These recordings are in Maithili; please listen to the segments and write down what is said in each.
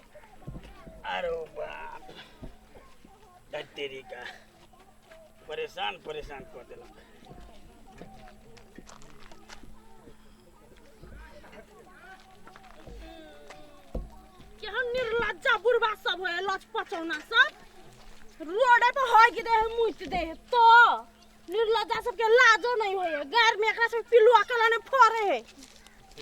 अरे बाप दा तेरी का परेशान परेशान कर देलक केहन निर्लज्जा बुढ़वा सब है लचपचौना सब रोडे पर होय गिरे है मुइत दे है तो निर्लज्जा सबके लाजो नहीं होए गार में एकरा सब पिलुआ कला ने फोरे है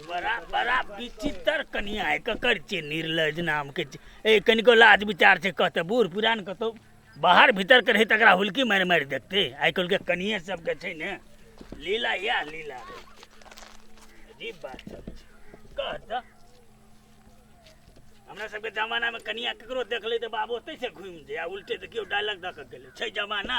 बड़ा बड़ा विचित्र कनिया है ककर छे निर्लज नाम के छे। ए कनिको लाज विचार से कहते बूढ़ पुरान कतो बाहर भीतर के रही तकरा हुलकी मारि मारि देखते आइ काल्हि के कनिये सबके छै ने लीला यैह लीला है। अजीब बात सब छै कह तऽ हमरा सबके जमानामे कनिया ककरो देखले तऽ बाबू ओतै से घुमि जाय आ उल्टे तऽ केओ डायलॉग दऽ कऽ गेलै छै जमाना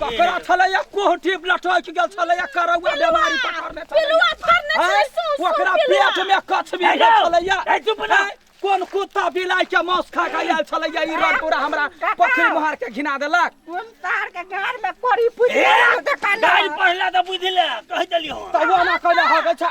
पकड़ा छलैया कोहटी लटक गेल छलैया करौआ बेमारी पकड़ने पिलुआ फरने छलैया छै सौंस ओकरा कोन पिलुआ। पेट में कछ भी गेल छलैया ए, चुप रह। हैं? कोन कुत्ता बिलाइ के मांस खा के आयल छलैया ई रन पूरा हमरा पोखरी मोहार के घिना देलक कोन तार के गाड़ में कोरी फुट ए, गाड़ी पढ़ला तऽ बुझि ले कहि देलियौ तऽ ओना कइले हगै छै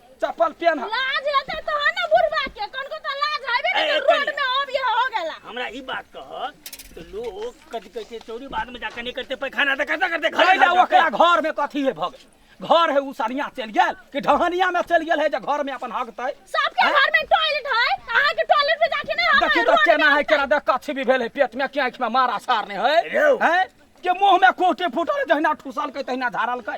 चप्पल पेन है लाज हेतै तहन ने बुढ़बा के कनको त लाज हेबे ए, ने ए, रोड कनी। में अब ये हो गेला हमरा ई बात कह तो लोग कथी कहै छै चोरी बाद में जाके नहीं करते पैखाना तो करते करते घर कैला जाके। ओकरा घर में कथी है भग घर है उ सनिया चल गेल कि ढहनिया में चल गेल है जे घर में अपन हगतै सबके घर में टॉयलेट है अहाँ के टॉयलेट में जाके नहीं हम देखी तो केना है केना देख कथी भी भेल है पेट में क्या आँखि में मारा सारने है रौ। हैं के मुंह में कोटे फूटल जहिना ठुसल कै तहिना झारल कै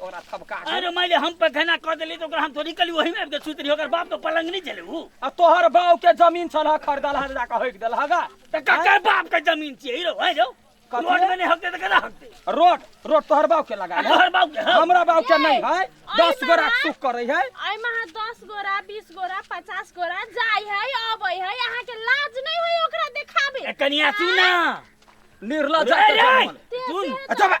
ओकरा थपका के अरे माइले हम पे घना कर देली तो ओकरा हम थोड़ी कली वही में आबि के सुत रही ओकर बाप तो पलंग नहीं चले उ आ तोहर बाव के जमीन छल खरीदल हर जाके होइक देल हगा त ककर बाप के जमीन छिए हिरो है जो कथी? रोड में नहीं हकते त केना हकते रोड रोड तोहर बाव के लगा आ है तोहर बाप के हम हमरा बाव के नहीं है दस गो राख सुख करे है आई महा दस गोरा बीस गोरा पचास गोरा जाई है अबै है यहाँ के लाज नहीं हुई ओकरा देखाबे ए, कनिया सुना निर्लज अरे, जात अरे, जन्मल। सुन अच्छा बा-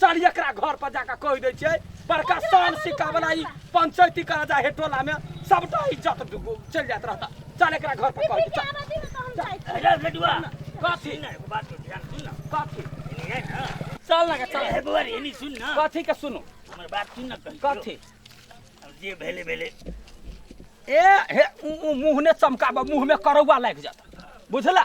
चल एकरा घर पर जाकर कह दे छे बड़का शान सिक्का वाला ई पंचायती करा जा हे टोला में सबटा इज्जत डुबो चल जात रहता चल एकरा घर पर कह दे चल आबादी में तो हम जाए छी। अरे लडुआ कथी ना एगो बात के ध्यान सुन ना कथी एनी है ना चल ना चल अरे बुआ रे एनी सुन ना कथी के सुनो हमर बात सुन ना कहीं कथी अब जे भेले भेले ए हे उ- उ मुंह ने चमकाबा मुंह में करौआ लाग जाता बुझला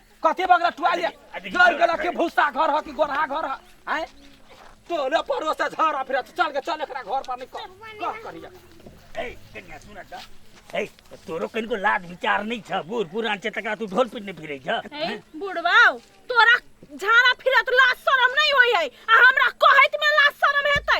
कथी बगरा टुआलिया जर गेला के भूसा घर ह कि गोरहा घर ह हैं तोले परो से झरा फिर चल के चल एकरा घर पर निकल कह करिया ए कन्या सुन त ए तोरो कनको लाज विचार नै छ बुढ पुरान छ तका तू ढोल पिट्ने फिरै छ ए बुढ़वाओ तोरा झाड़ा फिरत लाज शरम नहीं होई है आ हमरा कहैत में लाज शरम हेतै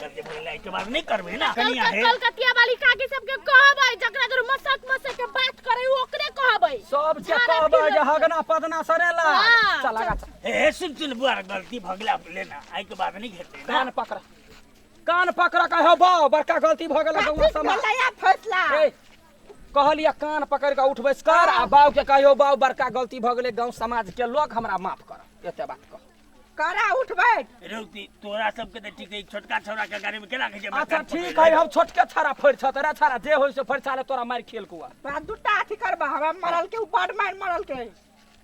सबके बोले लाइट बार नहीं करबे ना कनिया है कलकतिया वाली काकी सबके कहबै जकरा घर मसक मसक के बात करे उ ओकरे कहबै सब के सारा कहबे फिल्म- जे हगना पदना सरेला हाँ, चला गा ए सुन सुन बुआ गलती भगला लेना आई के बाद नहीं घेते ना कान पकड़ा कान पकड़ा कहे हो बाओ बड़का गलती भ गेल गौवा समाज भलैया फैसला ए, कहलिया कान पकड़ के उठ बैस कर आ बाऊ के कहियो बाऊ बड़का गलती भ गेलै गांव समाज के लोग हमरा माफ कर एते बात कह करा उठ बैठ रुकती तोरा सबके तऽ ठीक है छोटका छौड़ा के गाड़ी में केना खींचे अच्छा ठीक है हम छोटके छाड़ा फड़ छ तोरा छाड़ा जे होय से फड़ साले तोरा मार खेल कुआ तोरा दूटा अथी करबा हमरा मरल के ऊपर मार मरल के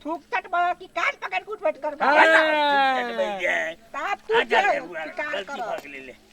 थूक कट बा कि कान पकड़ के उठ बैठ करबा हाँ। तब तू जे शिकार कर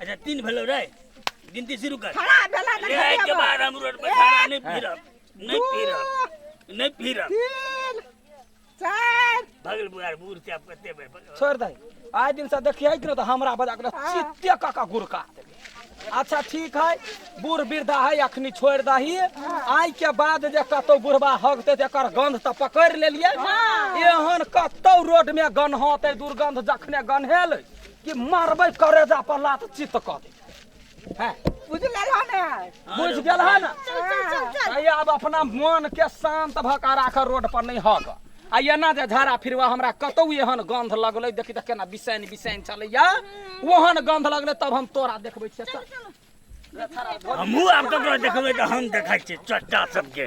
अच्छा तीन भेलो रे गिनती शुरू कर खड़ा भेला तऽ ले आइ के खड़ेबो। बाद हम रोड पर खाना नहीं पी रहा नहीं पी रहा नहीं पी रहा तीन चारि भगल बुआर बूढ़ से आप कते बेर पकड़- छोड़ दे आइ दिन से देखिए कि न तो हमरा बजा के चित्ते काका गुरका देबे। अच्छा ठीक है बूढ़ वृद्धा है अखनी छोड़ दही आइ के बाद जे कतौ बुढ़वा हगते ते एकर गंध तऽ पकड़ लेलिए एहन कतौ रोड में गन्हते दुर्गंध जखने गन्हेल कि मारबै करेजा पर लात चित्त कऽ दे हैं बुझ गेल हन ने बुझ गेल है ना चल चल चल चल आइए अब अपना मन के शांत भऽ कऽ राखऽ रोड पर नहि हग आ एना जे झाड़ा फिरवा हमरा कतौ एहन गंध लगलै देखी तऽ केना बिसैन बिसैन चलैया ओहन गंध लगलै तब हम तोरा देखबै छियै चल हमहूँ आब ककरो देखबै तऽ हम देखै छियै चट्टा सबके